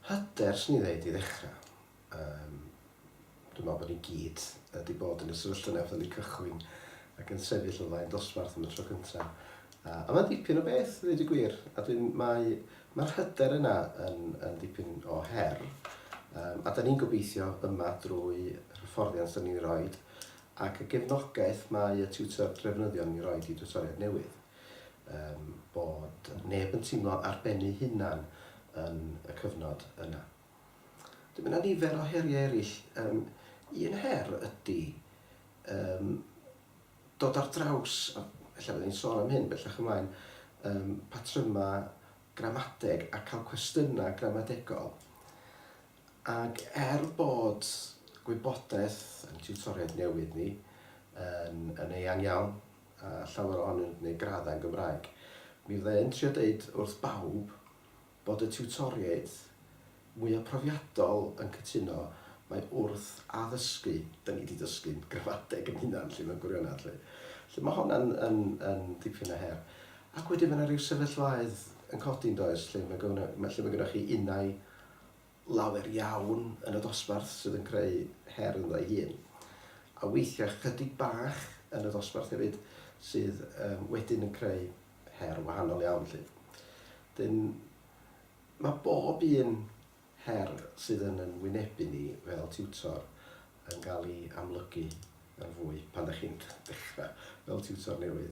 Hyder, 'swn i'n ddeud, i ddechrau. Yym, dwi'n meddwl bod ni gyd wedi bod yn y sefyllfa yna wrth i ni cychwyn ac yn sefyll o flaen dosbarth am y tro cyntaf. A, a mae'n dipyn o beth, i ddeud y gwir. A dwi'n, mae, mae'r hyder yna yn, yn dipyn o her. Um, a da ni'n gobeithio yma drwy hyfforddiant da ni'n ei roed, Ac y gefnogaeth mae y tiwtor drefnyddion yn ei roid i diwtoriaid newydd, yym, bod neb yn teimlo ar ben eu hunan yn y cyfnod yna. Wedyn mae 'na nifer o heriau eraill. Yym, un her ydy, yym, dod ar draws, a ella byddwn i'n sôn am hyn bellach ymlaen, yym, patrymau gramadeg a cael cwestiynau gramadegol. Ac er bod gwybodaeth ein tiwtoriaid newydd ni yn yn eang iawn, a llawer ohonynt yn gwneud graddau yn Gymraeg, mi fydda i yn trio deud wrth bawb bod y tiwtoriaid mwya' profiadol yn cytuno mai wrth addysgu 'da ni 'di dysgu'n gramadeg yn hunan 'lly mewn gwirionedd 'lly. 'Lly ma' honna'n yn yn dipyn o her. Ac wedyn ma' 'na ryw sefyllfaoedd yn codi yndoes lle ma' gyfno- ma' lle ma' gynnoch chi unai lawer iawn yn y dosbarth sydd yn creu her ynddo ei hun, a weithiau ychydig bach yn y dosbarth hefyd sydd yym wedyn yn creu her wahanol iawn 'lly. Wedyn, mae bob un her sydd yn yn wynebu ni fel tiwtor yn cael ei amlygu yn fwy pan dach chi'n dechrau fel tiwtor newydd.